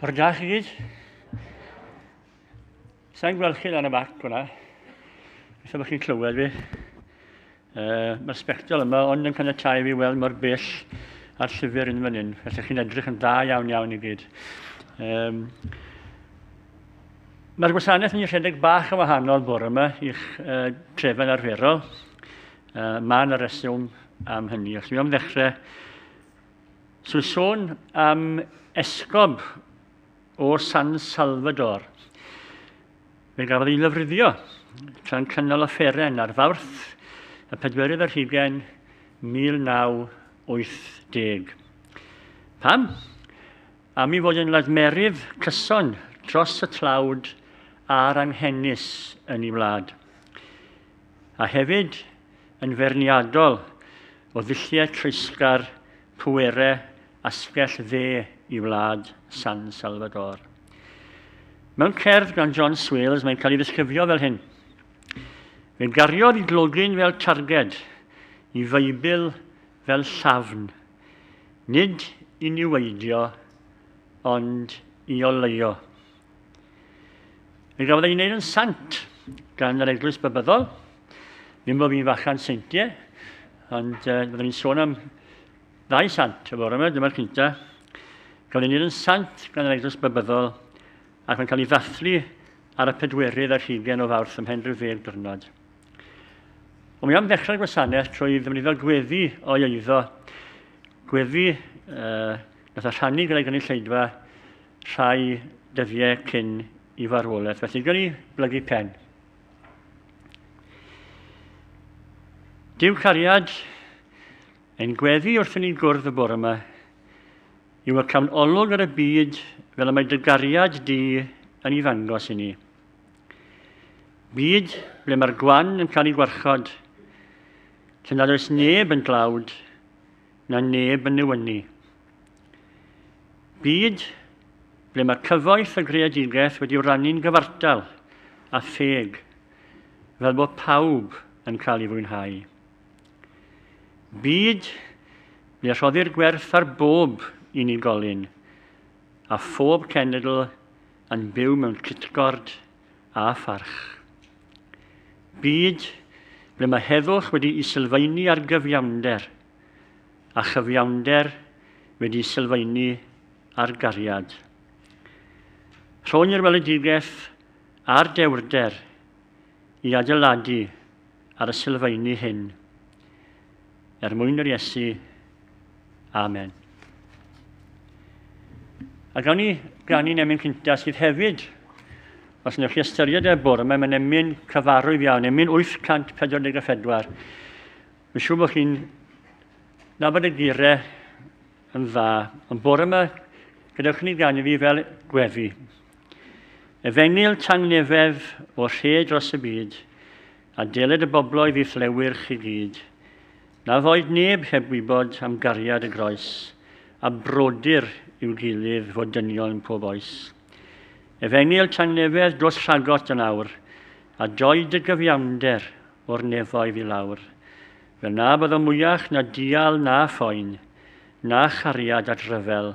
Ffordd gach i gyd. Sa'n gweld chi lan y bac hwnna. Felly bod chi'n clywed fi. Uh, Mae'r sbectol yma ond yn caniatau fi weld mor bell a'r llyfr yn fan hyn. Felly chi'n edrych yn dda iawn iawn i gyd. Um, Mae'r gwasanaeth yn rhedeg bach yn wahanol bore yma i'ch uh, trefen arferol. Uh, mae yna reswm am hynny. Os mi am ddechrau, so sôn am esgob o San Salvador. Fe gafodd ei lyfryddio tra'n cynnal offeren ar fawrth y pedwerydd ar hugen 1980. Pam? Am ei fod yn lasmerydd cyson dros y tlawd a'r anghenus yn ei wlad. A hefyd yn feirniadol o ddulliau treisgar, pwerau asgell dde i wlad San Salvador. Mewn cerdd gan John Swales mae'n cael ei ddisgrifio fel hyn. Fe gariodd i glogyn fel targed, i feibl fel llafn, nid i niweidio, ond i oleuo. Fe gafodd ei wneud yn sant gan yr Eglwys Bybyddol, ddim bod fi'n fachan seintiau, ond uh, byddwn ni'n sôn am ddau sant y fore yma, dyma'r cynta. Gafodd ei wneud yn sant gan yr Eglwys Bybyddol, ac mae'n cael ei ddathlu ar y pedwerydd ar hugen o fawrth ymhen rhyw ddeg dwrnod. Ond mi am ddechrau'r gwasanaeth trwy ddefnyddio gweddi o'i eiddo, gweddi uh, nath a rhannu gyda'i gynulleidfa rhai dyddiau cyn i farwolaeth. Felly, gan i blygu pen. Dyw cariad ein gweddi wrth ni gwrdd y bore yma yw y cawn olwg ar y byd fel y mae dy gariad di yn ei ddangos i ni. Byd ble mae'r gwan yn cael ei gwarchod, lle nad oes neb yn dlawd, na neb yn newynu. Byd ble mae cyfoeth y greadigaeth wedi rannu'n gyfartal a theg, fel bod pawb yn cael ei fwynhau. Byd ble rhoddir gwerth ar bob unigolyn a phob cenedl yn byw mewn cytgord a pharch. Byd ble mae heddwch wedi i sylfaenu ar gyfiawnder a chyfiawnder wedi i sylfaenu ar gariad. Rhoni'r weledigaeth a'r dewrder i adeiladu ar y sylfaenu hyn. Er mwyn yr Iesu. Amen. A gawn ni grannu'n emyn cynta sydd hefyd, os wnewch chi ystyried e bwrw, mae'n mynd emyn cyfarwydd iawn, emyn 844. Mae'n siŵr bod chi'n nabod y gire yn dda, ond bore yma, gadewch ni gan i fi fel gweddi. Efengil tangnefedd o rhe dros y byd, A dyled y bobloedd i'th lewyrch chi gyd, na foed neb heb wybod am gariad y groes, a brodyr i'w gilydd fod dynion pob oes. Efengyl tangnefedd dos rhagot yn awr, a doi dy gyfiawnder o'r nefoedd i lawr, fel na byddo mwyach na dial na phoen, na chariad at ryfel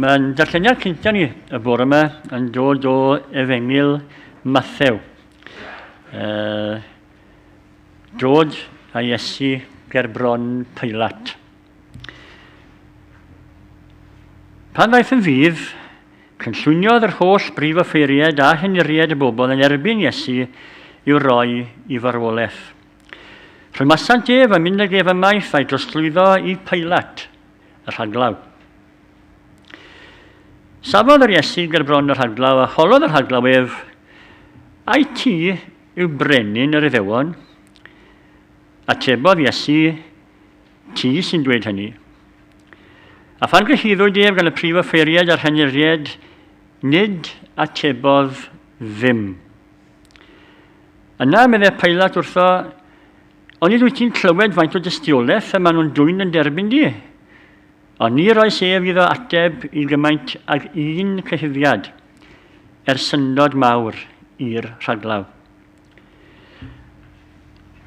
Mae'n darlleniad cyntaf ni y bore yma yn dod o efengil Mathew. Uh, dod a Iesu ger bron Pilat. Pan ddaeth yn fydd, cynllwyniodd yr holl brif offeiriaid a henuriaid y bobl yn erbyn Iesu i'w roi i farwolaeth. Rhymasant ef a mynd ag ef ymaith a'i drosglwyddo i Pailat, y rhaglaw. Safodd yr Iesu ger bron y rhaglaw a holodd y rhaglaw ef, Ai ti yw brenin yr Iddewon? Atebodd Iesu, Ti sy'n dweud hynny. A phan gyhuddwyd ef gan y prif offeiriad a'r rhenyrried, nid atebodd ddim. Yna, meddai Pailat wrtho, ond nid wyt ti'n clywed faint o dystiolaeth y maen nhw'n dwyn yn derbyn di? Ond ni roes ef iddo ateb i gymaint ag un cyhuddiad, er syndod mawr i'r rhaglaw.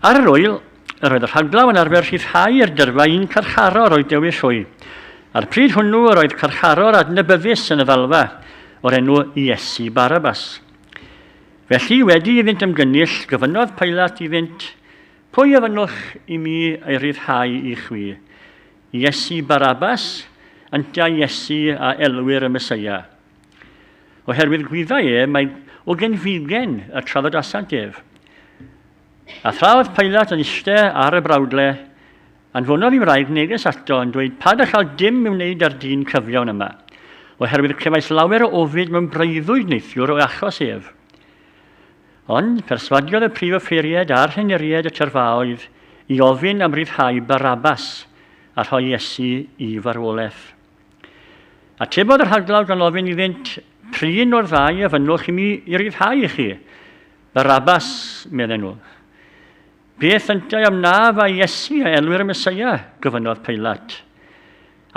Ar yr wyl, yr oedd y rhaglaw yn arfer rhyddhau i'r dyrfa un carcharor o'i dewis hwy. A'r pryd hwnnw yr oedd carcharor adnabyddus yn y ddalfa, o'r enw Iesu Barabas. Felly, wedi i fynd ymgynnull, gyfynodd Pilat i fynd, Pwy a fynnwch i mi ei ryddhau i chwi? Iesu Barabas, ynta Iesu a elwir y Mesoea. Oherwydd gwyddai e mai o genfigen y traddodiadau def. A thra oedd Pilat yn iste ar y brawdle, anfonodd i wraig neges ato yn dweud pa gallal dim i'w wneud â'r dyn cyfiawn yma, oherwydd clefais lawer o ofid mewn breuddwyd neithiwr o achos ef. Ond perswadiodd y prif offeiried a'r rheneried y tyrfaoedd i ofyn am ryddhau Barabas a rhoi Iesu i farwolaeth. Atebodd y rhaglawr gan ofyn iddynt, Prin o'r ddau a fynnwch i mi i ryddhau i chi? Barabas, medden nhw. Beth yntau am na fa Iesu a elwir y Mesoea? gofynnodd Peilat.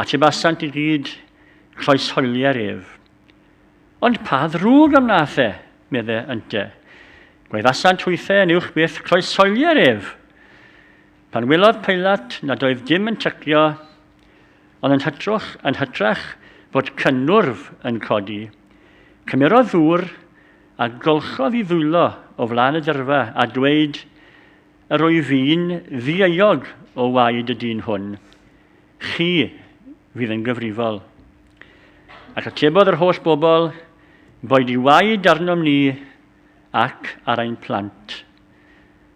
Atebasant i gyd, Croesholier ef. Ond pa ddrwg am na the, medde ynte. Gwaeddasant hwythe yn uwch byth, Croesholier ef! Pan welodd Peilat nad oedd dim yn tycio, ond yn hytrwch yn hytrach fod cynnwrf yn codi, cymerodd ddŵr, a golchodd i ddwylo o flaen y dyrfa, a dweud, Yr wyf fi'n ddieuog o waed y dyn hwn, chi fydd yn gyfrifol. Ac atebodd yr holl bobl, Boed i waed arnom ni ac ar ein plant.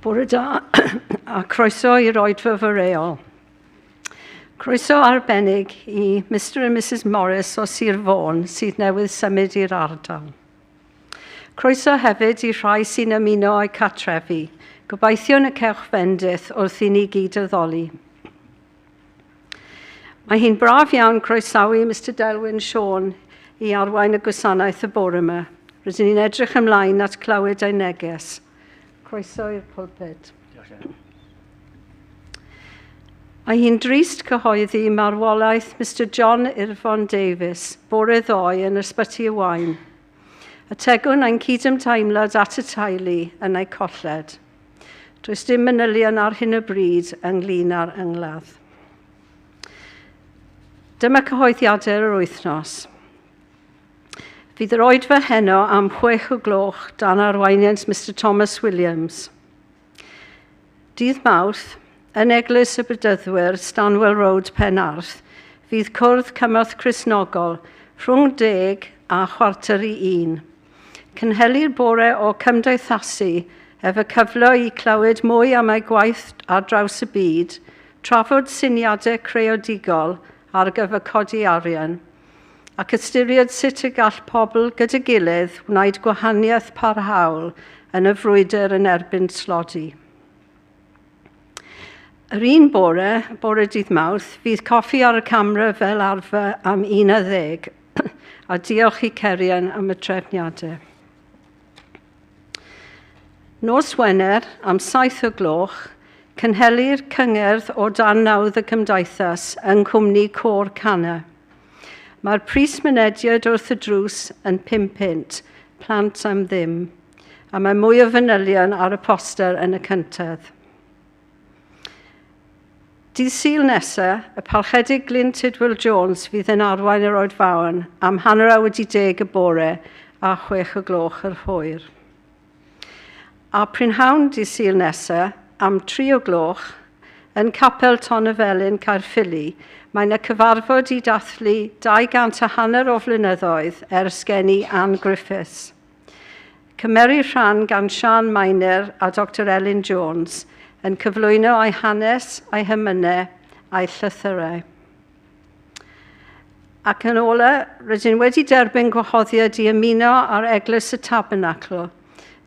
Bore da a croeso i roedfa fy reol. Croeso arbennig i Mr and Mrs Morris o Sir Fôn sydd newydd symud i'r ardal. Croeso hefyd i rhai sy'n ymuno â'i catrefi. Gobeithiwn y cewch fendith wrth i ni gyd addoli. Mae hi'n braf iawn croesawu Mr Delwyn Sean i arwain y gwasanaeth y bore yma. Rydyn ni'n edrych ymlaen at clywed ei neges. Croeso i'r pulpit. Mae hi'n drist cyhoeddi marwolaeth Mr John Irfon Davies bore ddoe yn Ysbyty y Wain. Ategwn ein cydymdeimlad at y teulu yn eu colled. Does dim manylion ar hyn o bryd ynglyn â'r yngladd. Dyma cyhoeddiadau yr wythnos. Fydd yr oedfa heno am chwech o gloch dan arweiniant Mr Thomas Williams. Dydd Mawrth, yn Eglwys y Bedyddwyr, Stanwell Road, Penarth, fydd cwrdd cymorth Cristnogol rhwng deg a chwarter i un. Cynhelir bore o cymdeithasu ef y cyfle i clywed mwy am ei gwaith ar draws y byd, trafod syniadau creadigol ar gyfer codi arian, ac ystyried sut y gall pobl gyda'i gilydd wneud gwahaniaeth parhaol yn y frwydr yn erbyn tlodi. Yr un bore, bore dydd Mawrth, fydd coffi ar y camera fel arfer am 11 a diolch i Cerian am y trefniadau. Nos Wener am saith o gloch, cynhelir cyngerdd o dan nawdd y Gymdeithas yng nghwmni Côr Cana. Mae'r pris mynediad wrth y drws yn pum punt, plant am ddim, a mae mwy o fanylion ar y poster yn y cyntedd. Dydd Sul nesa, y Palchedig Glyn Tidwell Jones fydd yn arwain yr Oed Faon am hanner awr wedi deg y bore a chwech o gloch yr hwyr. A prynhawn dydd Sul nesa, am tri o gloch, yn Capel Ton y Felin, Caerffili, mae yna cyfarfod i dathlu 200 a hanner o flynyddoedd ers geni Ann Griffiths. Cymerir rhan gan Siân Mainer a Doctor Elin Jones yn cyflwyno ei hanes, ei hymynau a'i llythyrau. Ac yn ola, rydyn wedi derbyn gwahoddiad i ymuno ar Eglwys y Tabernacl,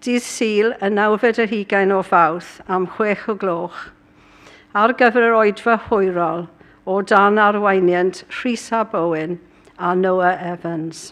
dydd Sul y nawfed yr hugain o Fawrth am chwech o gloch, ar gyfer yr oedfa hwyrol o dan arweiniant Rhys Ab Owen a Noah Evans.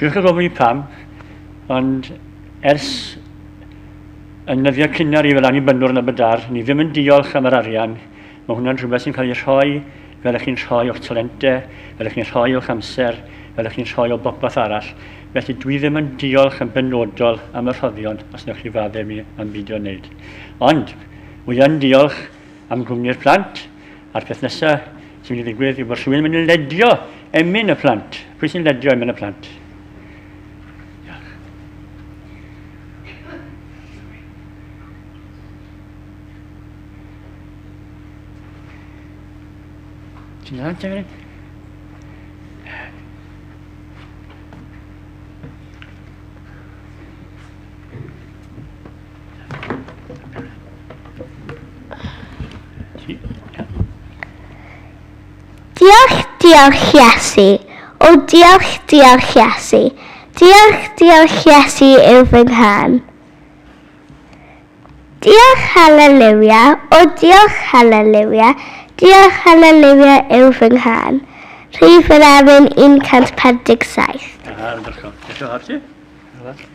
Gwych yn gofyn pam, ond ers yn nyddiau cynnar i fel annibynnwr yn Aberdar, ni ddim yn diolch am yr arian. Mae hwnna'n rhywbeth sy'n cael ei rhoi fel ych chi'n rhoi o'ch talente, fel ych chi'n rhoi o'ch amser, fel ych chi'n rhoi o bopeth arall. Felly dwi ddim yn diolch yn benodol am y rhoddion os wnewch chi faddef mi am beidio wneud. Ond, wy yn diolch am gwmni'r plant a'r peth nesaf sy'n mynd i ddigwydd yw bod rhywun yn mynd i ledio emyn y plant. Pwy sy'n ledio emyn y plant? Ti'n dda, ti'n mynd? Diolch, diolch Iesu. O diolch, diolch Iesu. Diolch, diolch Iesu yw fy nghan. Diolch, haleluia. O diolch, haleluia. Diolch, haleluia yw fy nghan. Rhif yr Emin 147. Ah, yn dyrchol. Eto, Archie.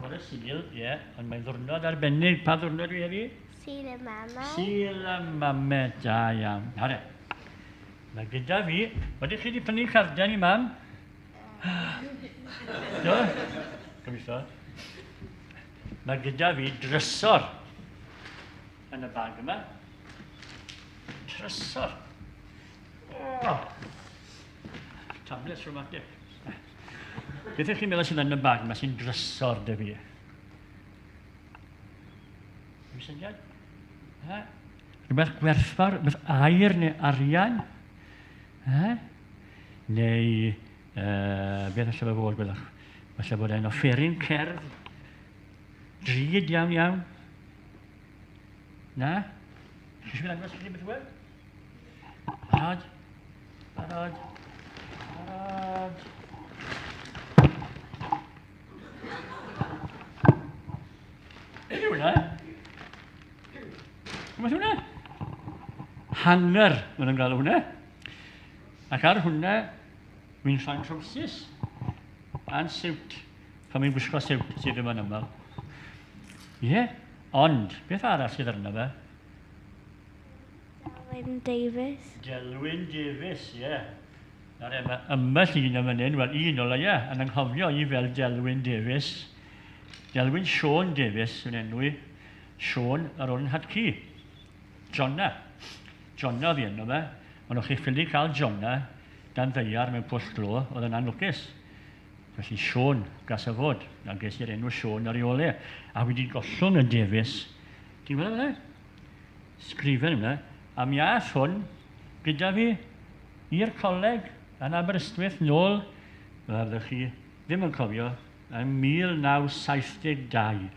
Bore Sul, ie, yeah, ond mae'n ddwrnod arbennig. Pa ddwrnod dwi heddi? Sul y mamau. Sul y mamau, da iawn. Hore. Mae gyda fi, ydych chi wedi prynu carden i mam? Do? Gobeithio. Mae gyda fi drysor yn y bag yma. Trysor. Oh. Tablets rhywmatic. Beth ydych chi'n meddwl sy'n mynd yn bag yma sy'n drysor dy fi? Rwy'n syniad? Ha? Rhywbeth gwerthfawr, rhywbeth air neu arian? Ha? Neu, uh, beth allai fe fod, gwelwch? Falle bod e'n offeryn cerdd, drud iawn iawn. Na? Chi eisiau gwneud beth wedi? Barod. Barod. Barod. Beth yw hwnna? Beth yw hwnna? Hanger, mae'n ymwneud â hwnna. Ac ar hwnna, wy'n rhan trowsus a'n siwt. Pan mi'n gwisgo siwt sydd yma'n ymwneud. Ie, ond, beth arall sydd arno fe? Delwyn Davies. Delwyn Davies, ie. Nawr e, mae ymbell un yn fan hyn, wel un o leia, yn anghofio i fel Delwyn Davies. Delwyn Sean Davies yn enw i. Sean yr o'n hadcu. Jonna. Jonna fi enw fe. Ond o'ch chi ffili cael Jonna dan ddeiar mewn pwll glo, oedd yn anlwcus. Felly Sean, gas y fod, a ges i'r enw Sean ar ei ole. A wedi gollwng y Davies. Ti'n gweld e? sgrifen yna a mi aeth hwn gyda fi i'r coleg yn Aberystwyth nôl, fel ydych chi ddim yn cofio, yn 1972.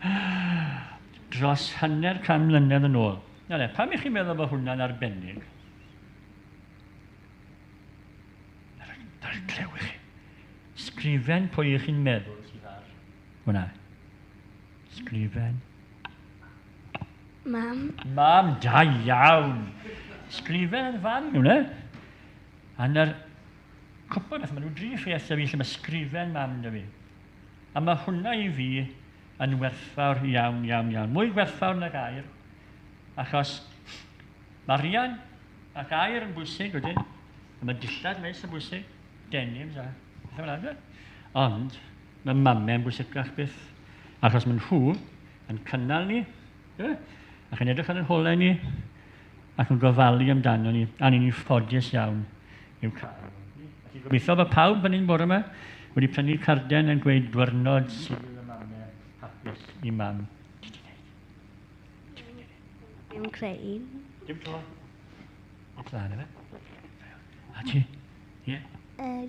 Dros hanner can mlynedd yn ôl. Na le, pam i chi'n meddwl bod hwnna'n arbennig? Na'r clywch chi. Sgrifen pwy i chi'n meddwl sydd ar hwnna. Sgrifen. Mam. Mam, da iawn. Sgrifen fan nhw, ne? A na'r cwpl beth, maen nhw dri chi eithaf fi lle mae sgrifen mam da fi. A mae hwnna i fi yn werthfawr iawn, iawn, iawn. Mwy werthfawr na gair, achos mae rian a gair yn bwysig wedyn, a mae dillad meis yn bwysig, denims a bethau fel yna. Ond, Mae mamau yn bwysicach byth, achos maen nhw yn cynnal ni, e? ac yn edrych ar y holau ni, ac yn gofalu amdano ni, a ni'n ffodus iawn i'w cael. Felly gobeithio bod pawb fan hyn bore yma wedi prynu carden yn gweud dwyrnod sydd y mamau hapus i mam. Dim creu. Dim to. O plan efe. A ti? Ie? Yeah. Uh,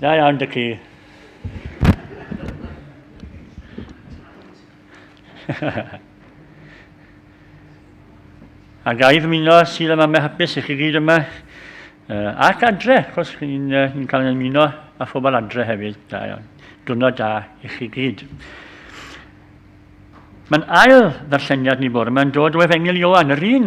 Da iawn, dy ci. a gaif yn ymuno sydd yma me hapus i chi gyd yma. Uh, ac adre, chos chi'n uh, ni cael yn ymuno a phobl adre hefyd. Da iawn. Dwrnod da i chi gyd. Mae'n ail ddarlleniad ni bore mae'n dod o Efengil Ioan, yr un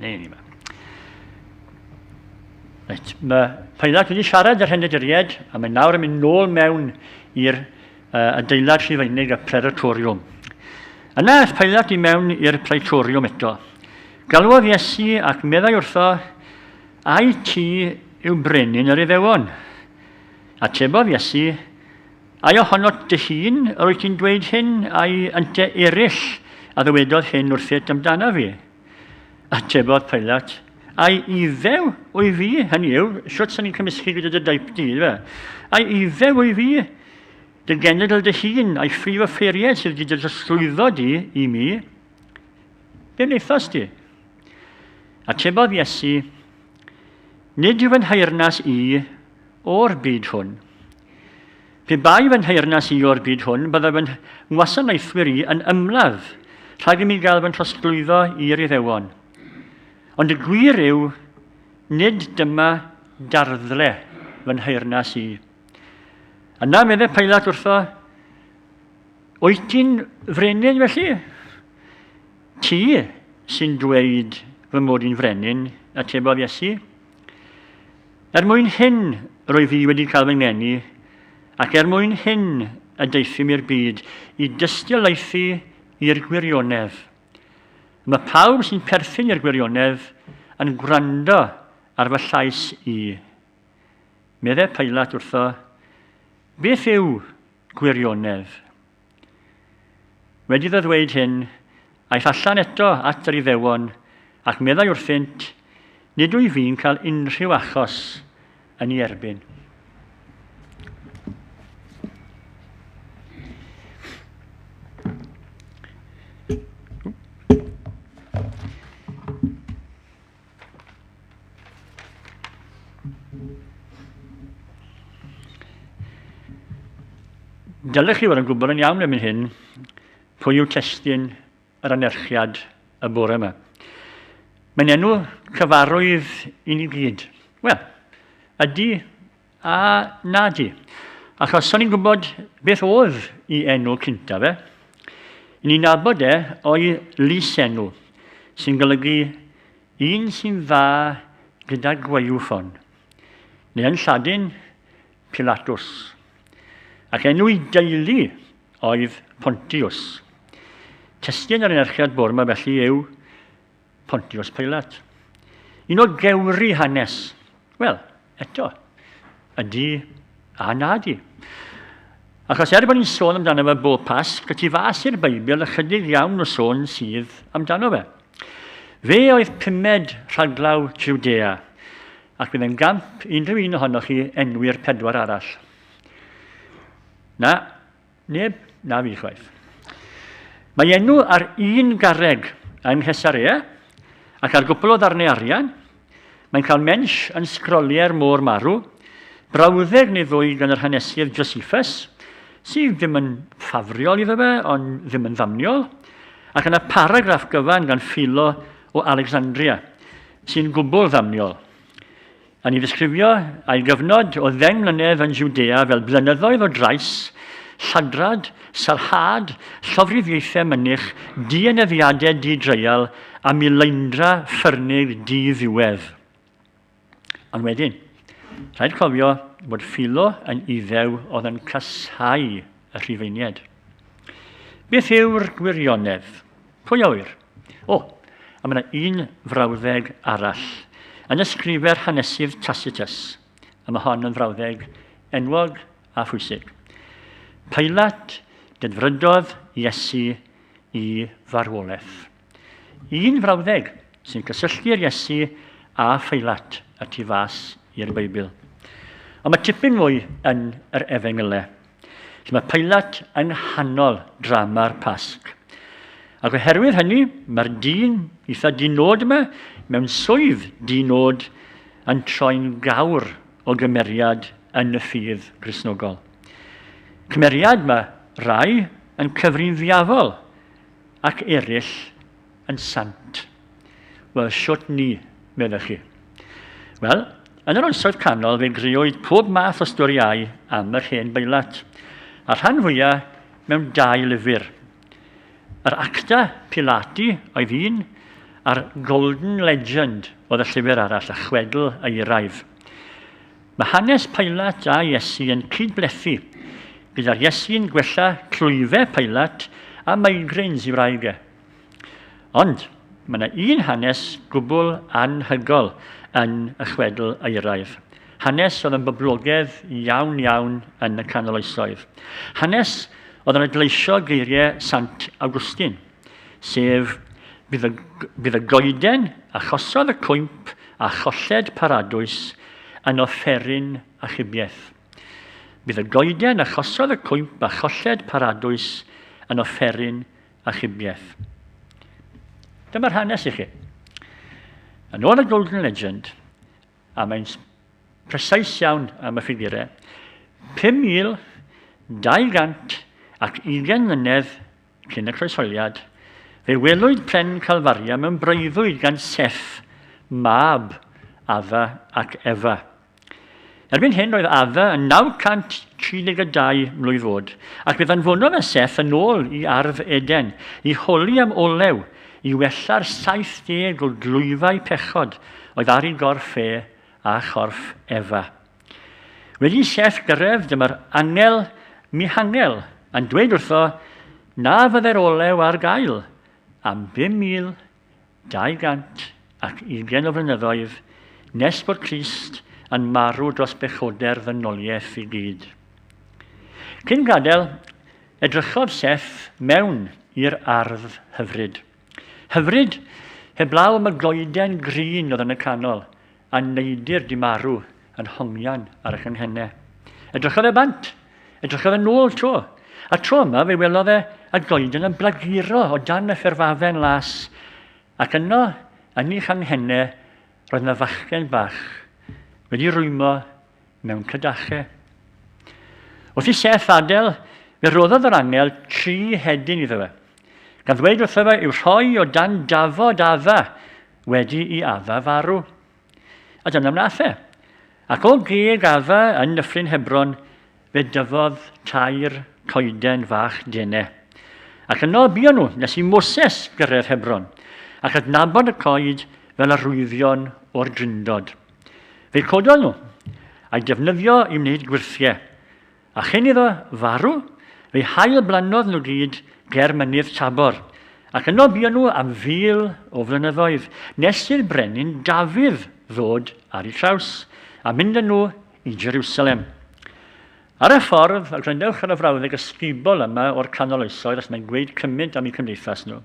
Neu ni ma. Reit, mae Paelad wedi siarad yr henedriaid a mae nawr yn mynd nôl mewn i'r uh, adeilad rhifeinig y preratoriwm. Yna ys Paelad i mewn i'r praetoriwm eto. Galwodd Iesu ac meddai wrtho, Ai ti yw brenin yr iddewon? Atebodd Iesu, Ai ohonot dy hun yr wyt ti'n dweud hyn, ai ynte eraill a ddywedodd hyn wrthyt amdana fi? Atebodd Pilat, Ai ife wy fi, hynny yw, sut sy'n ni'n cymysgu gyda dy daip di, fe? Ai ife wy fi, dy genedl dy hun, ai ffrif y ffeiriau sydd wedi dy drosglwyddo di i mi? Be wnaethas di? Atebodd Iesu, Nid yw fy nhaernas i O'r byd hwn. Pe bai fy nheyrnas i o'r byd hwn, byddai fy ngwasanaethwyr i yn ymladd rhag i mi gael fy nhrosglwyddo i'r Iddewon. Ond y gwir yw, nid dyma darddle fy nheyrnas i. Yna medde Pailat wrtho, Wyt ti'n frenin felly? Ti sy'n dweud fy mod i'n frenin, atebodd Iesu. Er mwyn hyn roedd fi wedi cael fy ngeni, ac er mwyn hyn y daethum i'r byd, i dystiolaethu i'r gwirionedd. Mae pawb sy'n perthyn i'r gwirionedd yn gwrando ar fy llais i. Medde Pailat wrtho, Beth yw gwirionedd? Wedi iddo ddweud hyn, aeth allan eto at yr Iddewon, ac meddai wrthynt, Nid wyf fi'n cael unrhyw achos yn ei erbyn. Dylech chi fod yn gwybod yn iawn erbyn hyn pwy yw testyn yr anerchiad y bore yma. Mae'n enw cyfarwydd i ni gyd. Wel, ydy A, na di. Achos son i'n gwybod beth oedd i enw cynta fe. Ni'n abod e o'i lys enw, sy'n golygu un sy'n dda gyda gwaywffon, neu yn Lladin, Pilatus. Ac enw i deulu oedd Pontius. Testyn yr enerchiad bwr yma felly yw Pontius Pilat. Un o gewri hanes. Wel, eto, ydy a na di. Achos er bod ni'n sôn amdano fe bob pas, y tu fas i'r Beibl ychydig iawn o sôn sydd amdano fe. Fe oedd pumed rhaglaw Judea, ac bydd yn gamp unrhyw un ohonoch chi enwi'r pedwar arall. Na, Neb, na fi chwaith. Mae enw ar un garreg yng Nghesarea ac ar gwpl o ddarnau arian. Mae'n cael mensh yn sgroliau'r môr marw, brawddeg neu ddwy gan yr hanesydd Josephus, sydd ddim yn ffafriol iddo fe, ond ddim yn ddamniol, ac yna paragraff gyfan gan Philo o Alexandria, sy'n gwbl ddamniol. Yn ei ddisgrifio ei gyfnod o ddeng mlynedd yn Judea fel blynyddoedd o drais, lladrad, sarhad, llofruddiaethau mynych, dienyddiadau di-dreial a mileindra ffyrnig di-ddiwedd. Ond wedyn, rhaid cofio bod Philo yn Iddew oedd yn casáu y Rhufeiniaid. Beth yw'r gwirionedd? Pwy a ŵyr? O, a mae yna un frawddeg arall. Yn ysgrifer hanesydd Tacitus, a mae hon yn frawddeg enwog a phwysig. Pilat dedfrydodd Iesu i farwolaeth. Un frawddeg sy'n cysylltu'r Iesu a Pheilat y tu fas i'r Beibl. Ond mae tipyn mwy yn yr efengylau. Felly mae Pilat yng nghanol drama'r Pasg. Ac oherwydd hynny, mae'r dyn eitha dinod yma, mewn swydd dinod, yn troi'n gawr o gymeriad yn y ffydd grisnogol. Cymeriad mae rai yn cyfrin ddiafol ac eraill yn sant. Wel, shwt ni, meddech chi? Wel, yn yr Oesoedd Canol fe greuwyd pob math o storiau am yr hen beilat, a rhan fwyaf mewn dau lyfr. Yr Acta Pilati oedd un, a'r Golden Legend oedd y llyfr arall, y chwedl eiraidd. Mae hanes Pilat a Iesu yn cydblethu, gyda'r Iesu'n gwella clwyfau Pilat a migraines i wraig e. Ond mae yna un hanes gwbl anhygol yn y chwedl euraidd. Hanes oedd yn boblogedd iawn iawn yn y canol oesoedd. Hanes oedd yn adleisio geiriau Sant Awgwstin, sef bydd y, bydd y goeden a chosodd y cwymp a cholled paradwys yn offeryn achubiaeth. Bydd y goeden a chosodd y cwymp a cholled paradwys yn offeryn achubiaeth. Dyma'r hanes i chi. Yn ôl y Golden Legend, a mae'n presais iawn am y ffigurau, 5,220 mlynedd cyn y croesholiad, fe welwyd pren Calfaria mewn breuddwyd gan Seth, mab Adda ac Efa. Erbyn hyn roedd Ava yn 932 mlwydd oed, ac fe ddanfonodd e Seth yn ôl i ardd Eden i holi am olew i wella'r 70 o glwyfau pechod oedd ar ei gorff e a chorff Efa. Wedi i Seth gyrraedd, dyma'r angel Mihangel yn dweud wrtho na fyddai'r olew ar gael am 5,000 220 o flynyddoedd nes bod Crist yn marw dros bechoder ddynoliaeth i gyd. Cyn gadael, edrychodd Seth mewn i'r ardd hyfryd. Hyfryd, heblaw am y goeden grîn oedd yn y canol, a neidr di marw yn hongian ar y cynghenne. Edrychodd e bant, edrychodd e nôl tro, a tro yma fe welodd e a goeden yn blaguro o dan y fferfafen las, ac yno, yn ei changhenne, roedd yna fachgen bach wedi rwymo mewn cydache. Wrth i Seth adael, fe roddodd yr angel tri hedyn iddo fe, gan ddweud wrtho fe i'w rhoi o dan dafod adda wedi i Afa farw. A dyna wnaeth e. Ac o geg Afa yn Nyffryn Hebron, fe dyfodd tair coeden fach dene. Ac yno buon nhw nes i Moses gyrraedd Hebron, ac adnabod y coed fel arwyddion o'r drindod. Fe cododd nhw, a'i defnyddio i wneud gwyrthiau, A chyn iddo farw, fe'i hail-blannodd nhw gyd ger mynydd Tabor, ac yno bu nhw am fil o flynyddoedd, nes i'r brenin Dafydd ddod ar ei traws, a mynd â nhw i Jerusalem. Ar y ffordd, a grynewch ar y frawddeg ysgubol yma o'r canol oesoedd, os mae'n gweud cymint am eu cymdeithas nhw.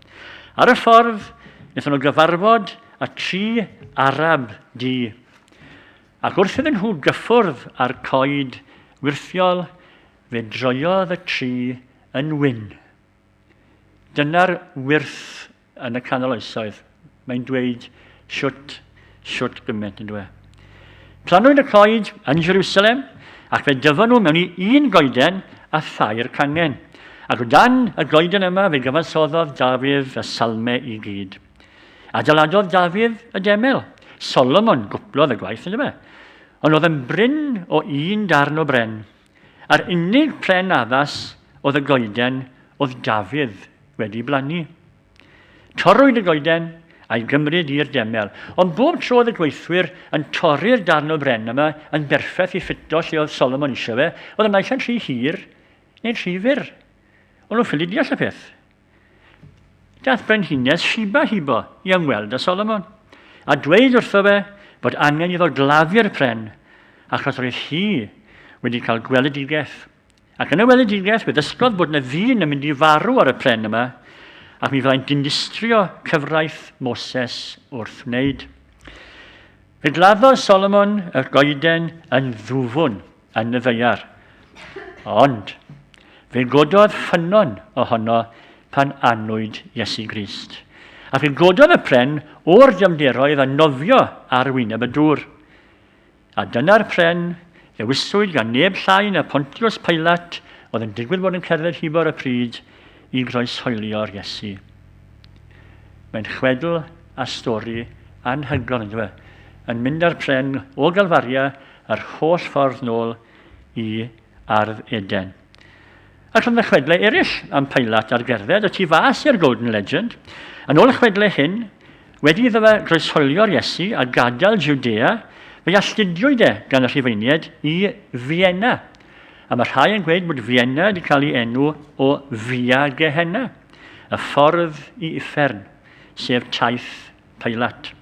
Ar y ffordd, wnaethon nhw gyfarfod a tri Arab di. Ac wrth iddyn nhw gyffwrdd â'r coed wyrthiol, fe droiodd y tri yn wyn. Dyna'r wyrth yn y canol oesoedd. Mae'n dweud siwt, siwt gymaint yn dweud. Planwyd y coed yn Jerusalem, ac fe dyfon nhw mewn i un goeden a thair cangen. Ac o dan y goeden yma fe gyfansoddodd Dafydd y salmau i gyd. Adeiladodd Dafydd y demel. Solomon gwplodd y gwaith, ynddo fe. Ond oedd yn brin o un darn o bren. A'r unig pren addas oedd y goeden oedd Dafydd wedi blannu. Torrwyd y goeden a'i gymryd i'r demel, ond bob tro oedd y gweithwyr yn torri'r darn o bren yma yn berffaith i ffito lle oedd Solomon eisiau fe, oedd y naill yn rhy hir neu'n rhy fyr. O'n nhw'n ffili deall y peth. Dath brenhines Shiba hibo i ymweld â Solomon, a dweud wrtho fe bod angen iddo gladdu'r pren, achos roedd hi wedi cael gweledigaeth. Ac yn y weledigaeth, fe ddysgodd bod yna ddyn yn mynd i farw ar y pren yma, ac mi fyddai'n dinistrio cyfraith Moses wrth wneud. Fe gladdodd Solomon y goeden yn ddwfwn. yn y ddaear. Ond, fe gododd ffynnon ohono pan anwyd Iesu Grist. A fe gododd y pren o'r dyfnderoedd a nofio ar wyneb y dŵr. A dyna'r pren ddewiswyd gan neb llai na Pontius Pilate oedd yn digwydd bod yn cerdded hibo'r y pryd i groeshoelio'r Iesu. Mae'n chwedl a stori anhygoel yn dweud, yn mynd â'r pren o Galfaria yr holl ffordd nôl i Ardd Eden. Ac roedd y chwedlau eraill am Pilat ar gerdded y tu fas i'r Golden Legend. Yn ôl y chwedlau hyn, wedi iddo fe groesholio'r Iesu a gadael Judea, fe alltudiwyd e gan y Rhufeiniaid i Fienna. A mae rhai yn gweud bod Fienna wedi cael ei enw o Via Gehenna, y ffordd i uffern, sef taith Pilate.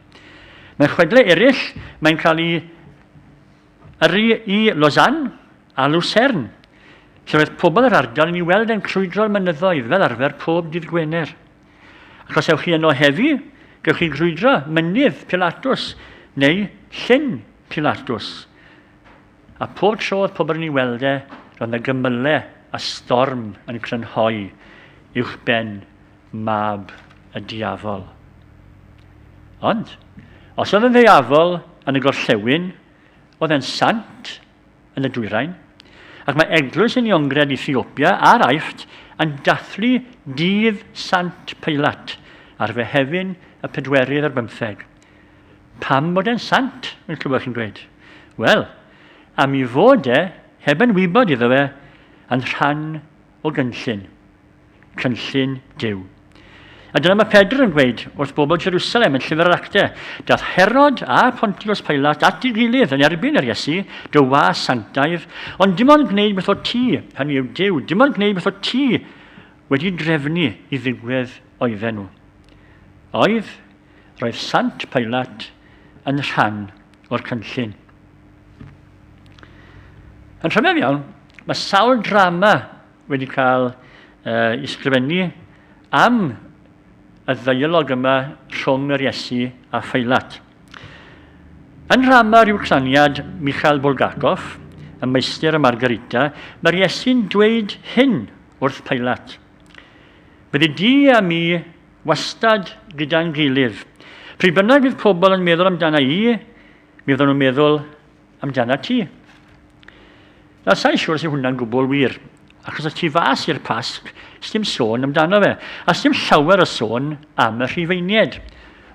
Mewn chwedlau eraill, mae'n cael ei yrru i Lausanne a Lucerne, lle oedd pobl yr ardal yn ei weld e'n crwydro'r mynyddoedd fel arfer pob dydd Gwener. Ac os ewch chi yno heddi, gewch chi grwydro mynydd Pilatus neu llyn Pilatus. A pob tro oedd pobl yn ei weld e, roedd yna gymylau a storm yn crynhoi uwch ben mab y diafol. Ond, os oedd yn ddeiafol yn y gorllewin, oedd e'n sant yn y dwyrain, ac mae eglwys yn Iongred Ethiopia a'r Aifft yn dathlu dydd Sant Peilat ar Fehefin y pedwerydd ar bymtheg. Pam bod e'n sant, yn clywed chi'n dweud? Wel, am i fod e, heb yn wybod iddo fe, yn rhan o gynllun, cynllun Duw. A dyna mae Pedr yn gweud wrth bobl Jerusalem yn llyfr yr acte, dath Herod a Pontius Pilat at ei gilydd yn erbyn yr Iesu, dy was sanctaidd, ond dim ond gwneud beth o ti, hynny yw Duw, dim ond gwneud beth o ti wedi drefnu i ddigwydd oedden nhw. Oedd, roedd Sant Pilat yn rhan o'r cynllun. Yn rhyfedd iawn, Mae sawl drama wedi cael ei ysgrifennu am y ddeialog yma rhwng yr Iesu a Pheilat. Yn rhama rhyw claniad Mikhail Bulgakov, y meistr y Margarita, mae'r Iesu'n dweud hyn wrth Pheilat. Bydde di a mi wastad gyda'n gilydd. Pryd bynnag fydd pobl yn meddwl amdana i, mi fydden nhw'n meddwl amdanat ti. Na, sa'i siwr sy'n hwnna'n gwbl wir, achos y tu fas i'r Pasg, sdim sôn amdano fe, a sdim llawer o sôn am y rhifeinied.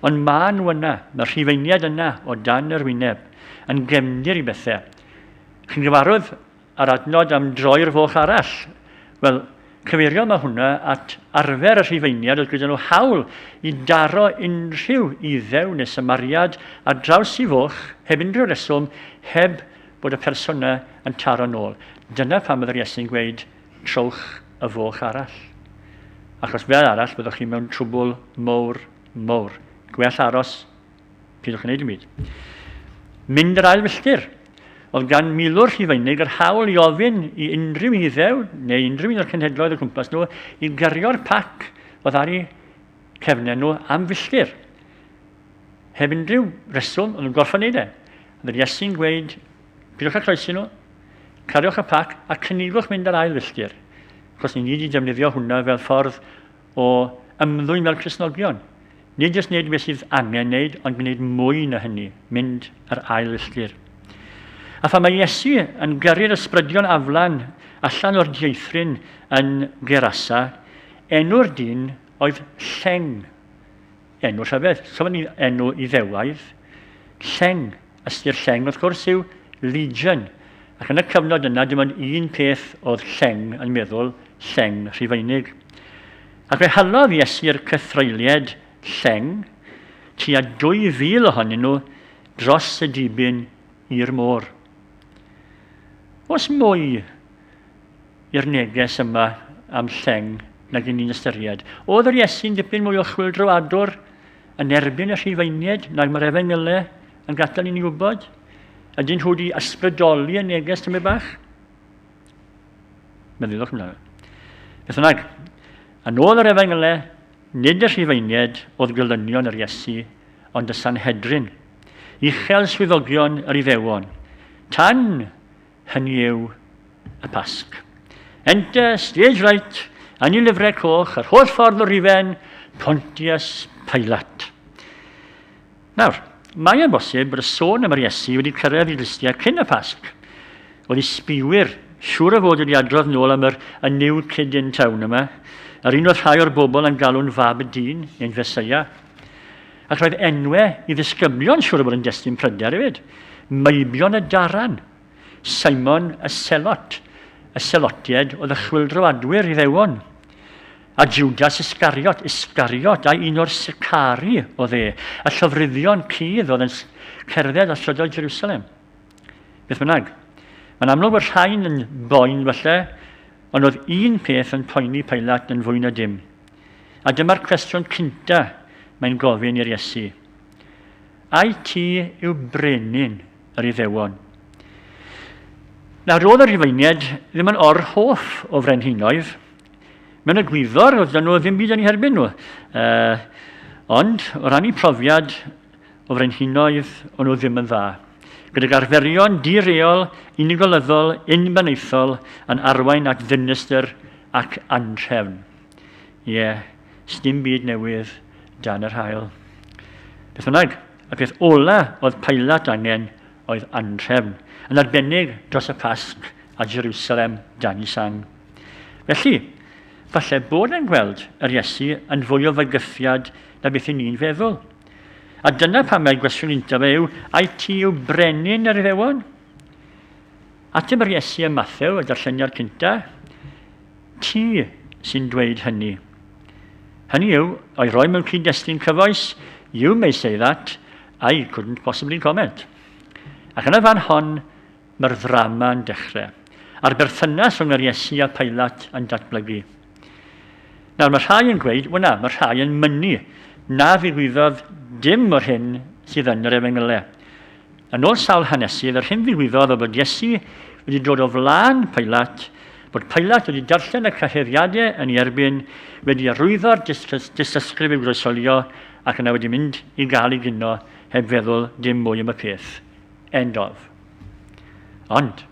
Ond ma nhw yna, mae'r rhifeinied yna o dan yr wyneb, yn gefndir i bethau. Chi'n gyfarwydd A'r adnod am droi'r foch arall, wel, cyfeirio mae hwnna at arfer y Rhufeiniaid oedd gyda nhw hawl i daro unrhyw iddew neu symariad ar draws i foch heb unrhyw reswm, heb bod y person yna yn taro nôl. Dyna pam oedd yr Iesu'n gweud, trowch y foch arall. Achos fel arall byddwch chi mewn trwbwl mowr, mowr. Gwell aros Peidiwch gwneud dim byd. Mynd yr ail filltir. Oedd gan milwr Rhufeinig yr hawl i ofyn i unrhyw un iddew, neu unrhyw un o'r cenhedloedd o gwmpas nhw, i gario'r pac oedd ar ei cefnau nhw am filltir. Heb unrhyw reswm, oedd yn gorfod wneud e. Oedd Iesu'n gweud, pidwch â croesi nhw, cariwch y pac a cynigwch mynd yr ail filltir. Cos ni ni wedi defnyddio hwnna fel ffordd o ymddwyn fel Cristnogion. Nid jyst wneud beth sydd angen wneud, ond gwneud mwy na hynny, mynd yr ail filltir. A pha mae Iesu yn gyrru'r ysbrydion aflan allan o'r dieithryn yn Gerasa, enw'r dyn oedd Lleng. Enw Llyfed, so mae'n enw Iddewaidd. Lleng, ystyr lleng wrth gwrs yw legion, ac yn y cyfnod yna dim ond un peth oedd lleng yn meddwl, lleng Rhufeinig. Ac fe halodd Iesu'r cythreulied lleng, tua 2,000 ohonyn nhw, dros y dibyn i'r môr. Os mwy i'r neges yma am lleng nag yn ni'n ystyried. Oedd yr Iesu'n dipyn mwy o chwildroadwr yn erbyn y Rhufeinied nag mae'r Efengyle yn gadael i ni wybod? Ydyn nhw wedi ysbrydoli y neges tymed bach? Meddyliwch amdano. Beth yna, a nôl yr Efengyle, nid y Rhufeinied oedd gylynion yr Iesu, ond y Sanhedrin, uchel swyddogion yr Iddewon. Tan Hynny yw, y Pasg. Enter, stage right, a ni lyfrau coch, yr holl ffordd o rifen, Pontius Pilate. Nawr, mae e'n bosib bod y sôn am yr Iesu wedi cyrraedd i listiau cyn y Pasg. Oedd i sbiwyr siŵr o fod wedi adrodd nôl am yr a new kid in town yma, yr un oedd rhai o'r bobl yn galw'n fab y dyn, neu'n feseia. Ac roedd enwe i ddisgyblion siŵr o fod yn destun pryder hefyd. Meibion y Daran, Simon y Selot, y Selotied oedd y chwildro adwyr Iddewon, a Judas Iscariot, Iscariot, a un o'r Sicari oedd e, y llofruddion cudd oedd yn cerdded a strydoedd Jerusalem. Beth bynnag, mae'n amlwg bod rhain yn boen falle, ond oedd un peth yn poeni Pailat yn fwy na dim, A dyma'r cwestiwn cynta mae'n gofyn i'r Iesu, Ai ti yw brenin yr Iddewon? Nawr, roedd y Rhufeiniaid ddim yn or hoff o frenhinoedd. Mewn y gwyddor, oedd nhw ddim byd yn ei herbyn nhw. Uh, ond, o ran ei profiad, o frenhinoedd o'n nhw ddim yn dda, gydag arferion di-reol, unigolyddol, unbenaethol yn arwain at ddinistr ac anrhefn. Ie, sdim byd newydd dan yr haul. Beth bynnag, y peth ola oedd Pilat angen oedd anrhefn, yn arbennig dros y Pasg a Jerusalem dan i sang. Felly, falle bod e'n gweld yr Iesu yn fwy o fygythiad na beth i ni'n feddwl. A dyna pam mae gwestiwn untaf yw, ai ti yw brenin yr Iddewon? Ateb yr Iesu ym Mathew, y darlleniad cynta, ti sy'n dweud hynny. Hynny yw, o'i roi mewn cyd-destun cyfoes, you may say that, I couldn't possibly comment. Ac yn y fan hon, Mae'r ddrama yn dechrau, a'r berthynas rhwng yr Iesu a Pailat yn datblygu. Nawr mae rhai yn gweud, wel na, mae rhai yn mynnu na ddigwyddodd dim o'r hyn sydd yn yr efengylau. Yn ôl sawl hanesydd, yr hyn ddigwyddodd o bod Iesu wedi dod o flaen Pailat, bod Pailat wedi darllen y cyheddiadau yn ei erbyn, wedi arwyddo'r dystysgrif i'w groesolio ac yna wedi mynd i gael ei gino heb feddwl dim mwy am y peth. End of. Ond,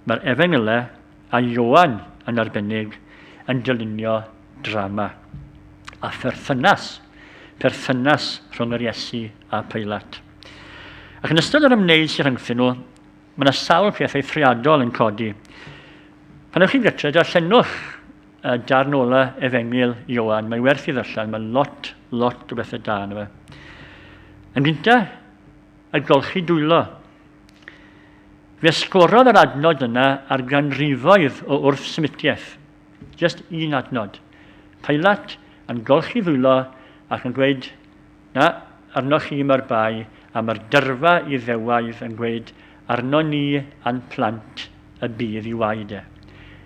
mae'r Efengylau a Ioan yn arbennig yn dylunio drama a pherthynas, perthynas rhwng yr Iesu a Peilat. Ac yn ystod yr ymwneud sy'n rhyngthyn nhw, mae yna sawl peth eithriadol yn codi. Pan ewch chi'n gytre, darllenwch y darn ola efengyl Ioan, mae werth i ddyllen, mae lot, lot o bethau da yna fe. Yn gynta, a golchi dwylo. Fe sgorodd yr adnod yna ar ganrifoedd o wrthsymitiaeth. Just un adnod. Pilate yn golchi ddwylo ac yn gweud, na, arnoch chi mae'r bai, a mae'r dyrfa i ddewaidd yn gweud, arno ni a'n plant y bydd i waed e.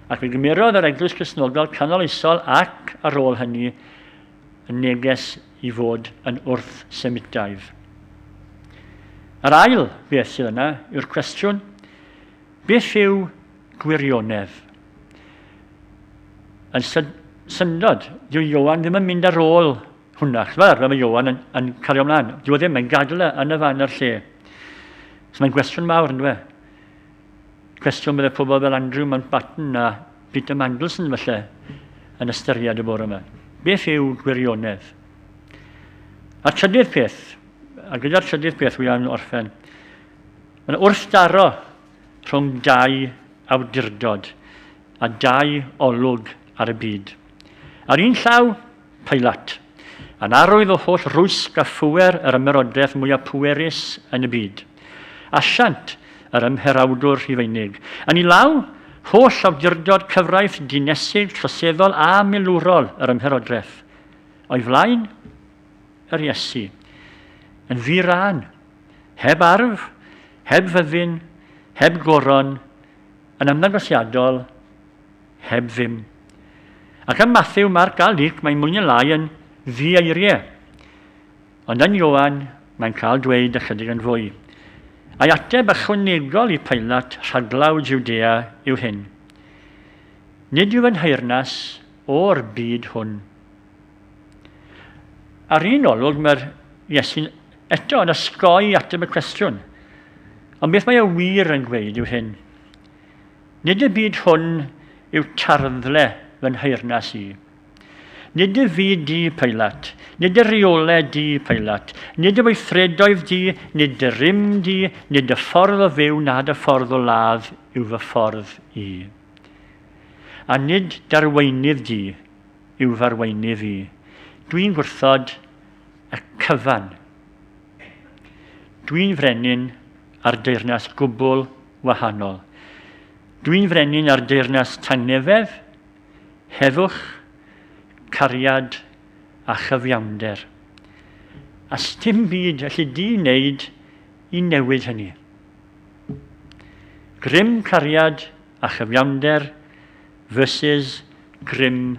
Ac fe gymerodd yr Eglwys Gristnogol canoloesol ac ar ôl hynny y neges i fod yn wrth-Semitaidd. Yr ail beth sydd yna yw'r cwestiwn, beth yw gwirionedd? Yn syndod, dyw Ioan ddim yn mynd ar ôl hwnna. Chos fel arfer mae Ioan yn, yn cario ymlaen. Dyw e ddim, mae'n gadw e yn y fan a'r lle. So mae'n gwestiwn mawr, ynddo fe? Cwestiwn byddai pobl fel Andrew Mountbatten a Peter Mandelson felly yn ystyried y bore yma. Beth yw gwirionedd? A'r trydydd peth, a gyda'r trydydd peth wy am orffen, mae'n wrthdaro rhwng dau awdurdod a dau olwg ar y byd. Ar un llaw, Peilat. Yn arwydd o holl rwysg a phŵer yr ymerodraeth mwyaf pwerus yn y byd. Asiant, yr ymherawdwr Rhufeinig. Yn ei law, holl awdurdod, cyfraith, dinesig, troseddol a milwrol yr ymherodraeth. O'i flaen, yr Iesu. Yn ddi-rân. Heb arf, heb fyddin, heb goron, yn ymddangosiadol, heb ddim. Ac ym Matthew, Marc a Luc mae mwy neu lai yn ddi-eiriau. Ond yn Ioan, mae'n cael dweud ychydig yn fwy. A'i ateb ychwanegol i Pilat rhaglaw Judea yw hyn. Nid yw yn nheyrnas o'r byd hwn. Ar un olwg mae'r Iesu'n eto yn osgoi ateb y cwestiwn. Ond beth mae y wir yn gweud yw hyn. Nid y byd hwn yw tarddle fy nheyrnas i. Nid y fi di, Peilat, nid y reole di, Peilat, nid y weithredoedd di, nid y rym di, nid y ffordd o fyw na dy ffordd o ladd yw fy ffordd i. A nid darweinydd di yw farweinydd i. Dwi'n gwrthod y cyfan. Dwi'n frenin ar deyrnas gwbl wahanol. Dwi'n frenin ar deyrnas tangnefedd, heddwch, cariad a chyfiawnder. A stim byd allu di wneud i newid hynny. Grym cariad a chyfiawnder versus grym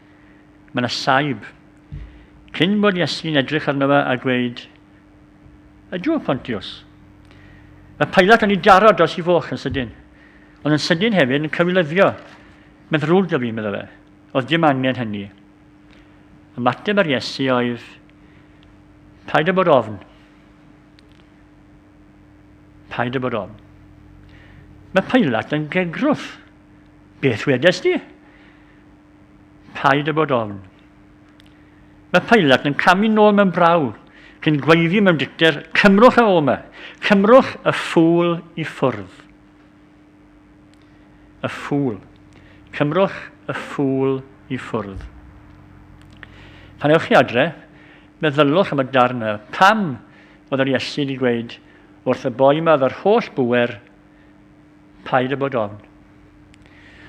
Mae yna saib. Cyn bod Iesu'n edrych arno fe a gweud, Ydw, Pontius. Mae Pilat yn ei daro dros ei foch yn sydyn, ond yn sydyn hefyd yn cywilyddio. Mae'n ddrwg da fi, meddwl fe. Oedd dim angen hynny. Ymateb ar Iesu oedd, paid â bod ofn. Paid â bod ofn. Mae Pilat yn gegrwth. Beth wedes di? Paid â bod ofn. Mae Pilat yn camu nôl mewn braw, cyn gweiddi mewn dicter, Cymrwch ef o'ma! Cymrwch y ffŵl i ffwrdd! Y ffŵl. Cymrwch y ffŵl i ffwrdd. Pan ewch chi adre, meddylwch am y darn yma. Pam oedd yr Iesu wedi gweud wrth y boi yma oedd yr holl bwer Paid â bod ofn.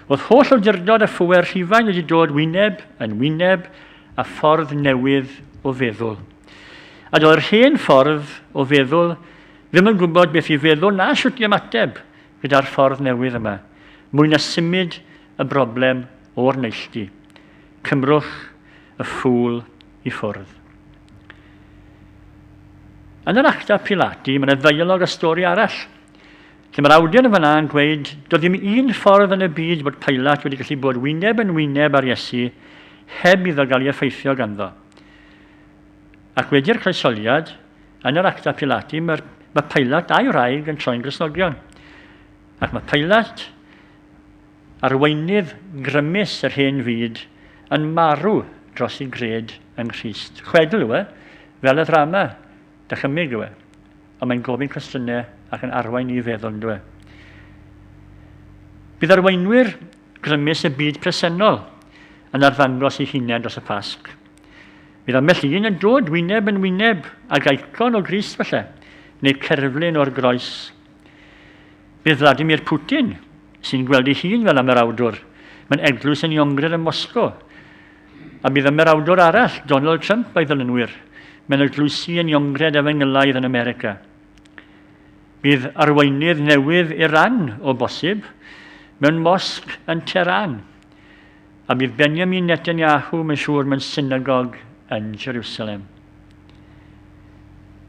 Oedd holl awdurdod a phŵer Rhufain wedi dod wyneb yn wyneb a ffordd newydd o feddwl. A doedd yr hen ffordd o feddwl ddim yn gwybod beth i feddwl na sut i ymateb gyda'r ffordd newydd yma, mwy na symud y broblem o'r neilltu. Cymrwch y ffŵl i ffwrdd. Yn yr acta Pilati, mae'n ddeialog a stori arall Lle mae'r awdur yn fanna yn gweud, doedd dim un ffordd yn y byd bod Pilat wedi gallu bod wyneb yn wyneb ar Iesu heb iddo gael ei effeithio ganddo. Ac wedi'r croesoliad, yn yr acta Pilati, mae, mae Pilat a'i wraig yn troi'n Gristnogion. Ac mae Pilat, arweinydd grymus yr hen fyd, yn marw dros ei gred yng Nghrist. Chwedl yw e, fel y ddrama, dychymyg yw e. Ond mae'n gofyn cwestiynau ac yn arwain ni i feddwl, yn dweud. Bydd arweinwyr grymus y byd presennol yn arddangos ei hunain dros y Pasg. Bydd ambell un yn dod wyneb yn wyneb ag aicon o Grist felly, neu cerflun o'r groes. Bydd Vladimir Putin, sy'n gweld ei hun fel am yr awdwr, mae'n eglwys yn Iongrer ym Moscow, A bydd ymerawdwr arall, Donald Trump, a'i ddylunwyr, mewn eglwysi yn Iongred Efengylaidd yn America. Bydd arweinydd newydd Iran, o bosib, mewn mosg yn Tehran. A bydd Benjamin Netanyahu, mae'n siŵr, mewn synagog yn Jerusalem.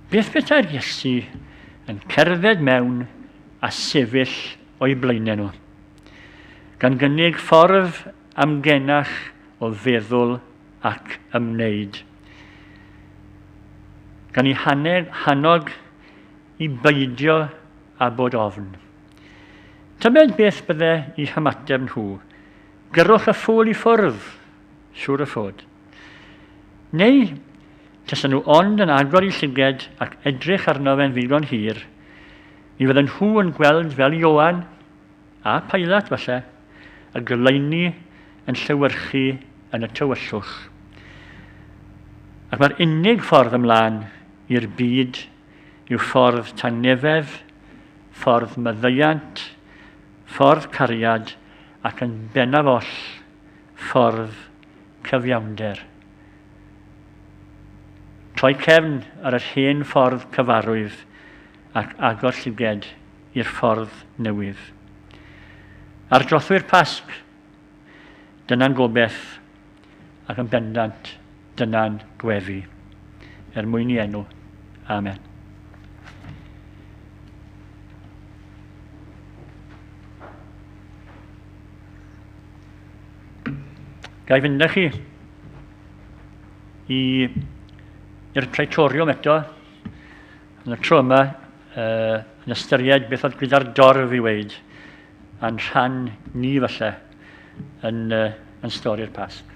Beth bethau'r Iesu yn cerdded mewn a sefyll o'i blaenau nhw, gan gynnig ffordd amgenach o feddwl ac ymwneud. Gan i haned, hannog i beidio a bod ofn. Tybed beth bydde i hymateb nhw? Gyrrwch y ffwl i ffwrdd, siŵr y fod. Neu, tasa nhw ond yn agor i llyged ac edrych arno fe'n ddigon hir, mi fydden nhw yn gweld fel Ioan A Pilate, falle, y goleuni yn llewyrchu yn y tywyllwch. Ac mae'r unig ffordd ymlaen i'r byd yw ffordd tangnefedd, ffordd maddeuant, ffordd cariad ac yn bennaf oll, ffordd cyfiawnder. Troi cefn ar yr hen ffordd cyfarwydd ac agor llygaid i'r ffordd newydd. Ar drothwy'r Pasg, dyna'n gobeith ac yn bendant dyna'n gwefi, er mwyn i enw. Amen. Gai fynd â chi i, i'r praetoriwm eto. Yn y tro yma, yn ystyried beth oedd gyda'r dorf i weid, a'n rhan ni falle yn, yn stori'r Pasg.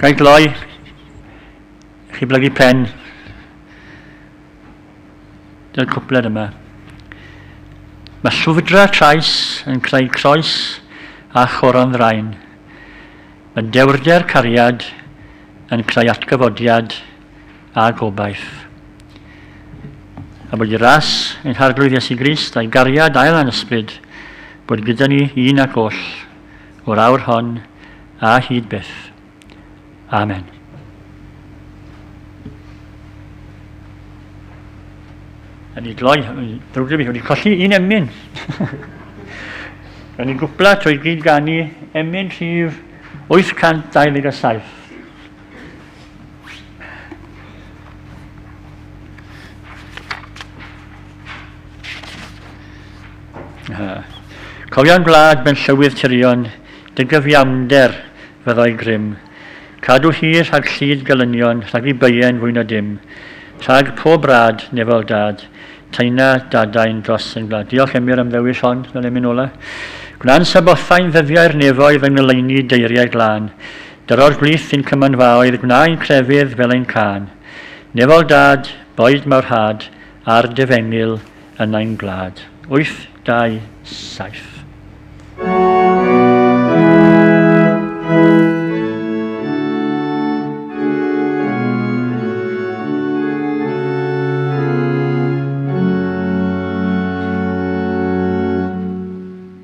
Gael gloi, chi blygu pen. Dyna'r cwpled yma. Mae llwfdra trais yn creu croes a choron ddraen. Mae dewrder cariad yn creu atgyfodiad a gobaith. A bod y ras yn harglwydd Iesu Grist a'i gariad ail a'n ysbryd bod gyda ni un ac oll o'r awr hon a hyd byth. Amen. a ni gloi, drwg fi, wedi colli un emyn. Ro'n ni'n gwpla trwy gyd gan i emyn rhif 827. Cofion gwlad ben llywydd tyrion, dygyfiamder fyddai grym. Cadw hi rhag llid gelynion, rhag i bye'n fwy na dim. Rhag pob rad, nefel dad, taina dadain dros yn gwlad. Diolch Emyr am ddewis hon, fel emyn ola. Gwna'n sabothau'n ddyddiau'r nefoedd yng ngoleuni deiriau glân. Dyro'r gwlith sy'n cymynfaoedd Gwnaen crefydd fel ein cân Nefol dad, boed mawr had Ar dy fengyl yn ein gwlad. 827.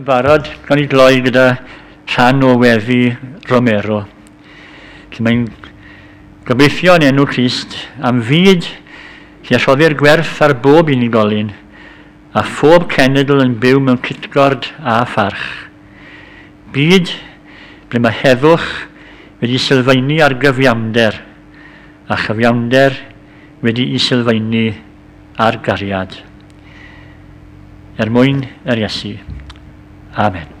yn barod, gan i gloi gyda rhan o weddi Romero. Lle mae'n gobeithio yn enw Christ am fyd lle rhoddir gwerth ar bob unigolyn a phob cenedl yn byw mewn cytgord a pharch. Byd ble mae heddwch wedi sylfaenu ar gyfiawnder a chyfiawnder wedi i sylfaenu a'r gariad. Er mwyn yr Iesu. Amen.